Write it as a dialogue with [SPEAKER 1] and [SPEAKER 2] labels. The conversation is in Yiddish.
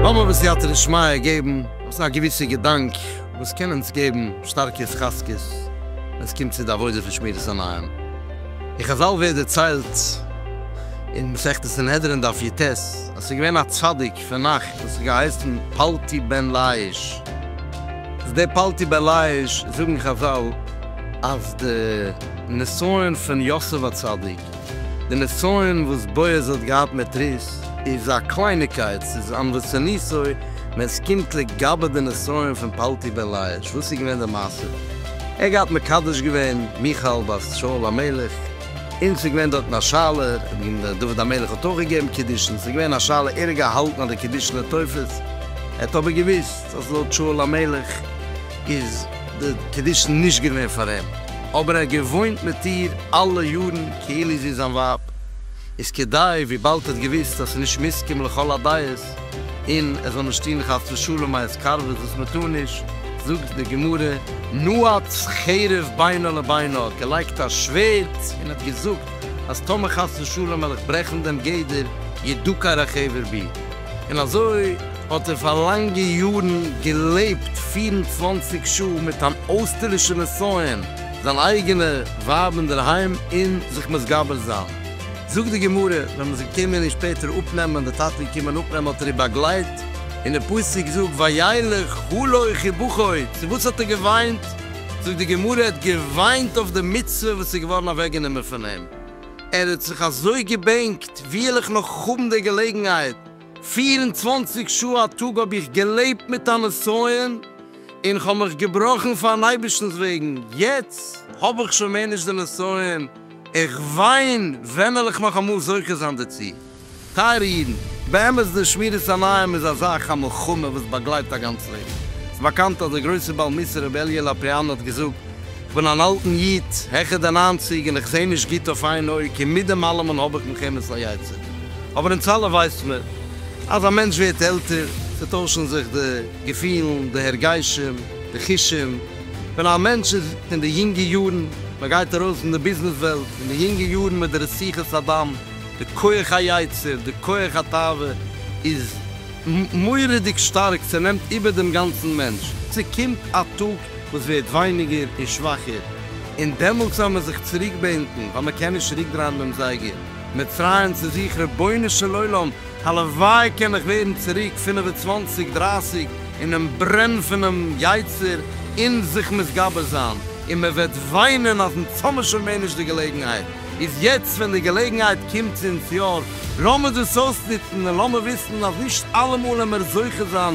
[SPEAKER 1] לאמיר בסייעתא דשמיא געבן אויס א געוויסע געדאנק וואס קען אונז געבן שטארקע התחזקות ווען עס קומט צו די עבודה פון שמירת עיניים. אין חזל ווערט דערציילט אין מסכת סנהדרין דף יט, אז ס'איז געווען א צדיק פון נאכט וואס האט געהייסן פלטי בן לאיש, איז דער פלטי בן לאיש זאגן חזל אז די נסיון פון יוסף הצדיק, די נסיון וואס בועז האט געהאט מיט רות, איז א קלייניקייט, ס'איז אן וואס איז ניסוי, ווען ס'קומט לגבי די נסיון פון פלטי בן לאיש, וואס איז געווען די מעשה? ער האט געהאט מקדש געווען מיכאל בת שאול המלך. און ס'איז געווען דארטן א שאלה, און דוד המלך האט אויך געגעבן קידושין, ס'איז געווען א שאלה ער האט געהאלטן אז די קידושין איז תופס, ער האט אבער געוואוסט אז לויט שאול המלך איז די קידושין נישט געווען פאר אים, אבער ער האט געוואוינט מיט איר אלע יארן כאילו זי איז זיין ווייב, איז כדי וויבאלד ער האט געוואוסט אז ס'איז נישט מסכים לכל הדעות, געזעץ, און עס זאל נישט טון חס ושלום א התקרבות וואס מען טאר נישט, זאגט די גמרא, נועץ חרב בינו לבינו, האט געלייגט א שווערד און האט געזאגט אז טאמער חס ושלום וועל איך ברעכן דעם גדר ידוק הרחבר בי, און אזוי האט ער פאר לאנגע יארן געלעבט פֿיר און צוואַנציק שעה מיט אן אויסטערלישע נסיון, זיין אייגענע ווייב אינדערהיים און זיך מתגבר זיין. זאגט די גמרא ווען מען איז געקומען אים שפעטער אפנעמען, די טאטע איז געקומען אפנעמען האט ער איר באגלייט, און די פסוק זאגט וילך הלוך ובכוי, צו וואס האט ער געוויינט? זאגט די גמרא ער האט געוויינט אויף די מצוה וואס איז געווארן אוועק גענומען פון אים, ער האט זיך אזוי געבענקט, ווי וועל איך נאך האבן די געלעגנהייט, פֿיר און צוואַנציק שעה א טאג האב איך געלעבט מיט א נסיון, און איך האב מיך געבראכן פארן אייבערשטנ'ס וועגן, יעצט האב איך שוין מער נישט די נסיון, איך וויין, ווען וועל איך נאך אמאל זוכה זיין דערצו? טייערע אידן, באמת דער שמירת עיניים איז א זאך, א מלחמה וואס באגלייט א גאנץ לעבן. ס'איז באקאנט אז דער גרויסער בעל מוסר רבי אלי' לאפריאן האט געזאגט, איך בין אן אלטן איד, העכער די ניינציג, און איך זע נישט גוט אויף איין אויג, און מיט דעם אלעמען האב איך מלחמת היצר. אבער אונז אלע ווייסט מען, אז א מענטש ווערט עלטער, ס'טוישן זיך די געפילן, די הרגשים, די חושים, ווען א מענטש איז אין די יונגע יארן, מען גייט ארויס אין די ביזנעס וועלט, אין די יונגע יארן מיט די רציחות הדם, די כח היצר, די כח התאווה איז מורא'דיג שטארק, ס'נעמט איבער דעם גאנצן מענטש, ס'קומט א טאג וואס ווערט ווייניגער און שוואכער, און דעמאלטס וועל מען זיך צוריק בענקן, ווייל מען קען נישט צוריק דרייען דעם זייגער. מצרים צו זיך רבונו של עולם הלוואי קען איך ווערן צוריק פינף און צוואנציג דרייסיג אינעם ברען פונעם יצר און זיך מתגבר זיין און מען וועט וויינען אז מצאנו שוין מער נישט די געלעגנהייט איז יעצט ווען די געלעגנהייט קומט צו אונז יא לאמיר דאס אויסנוצן און לאמיר וויסן אז נישט אלעמאל העמער זוכה זיין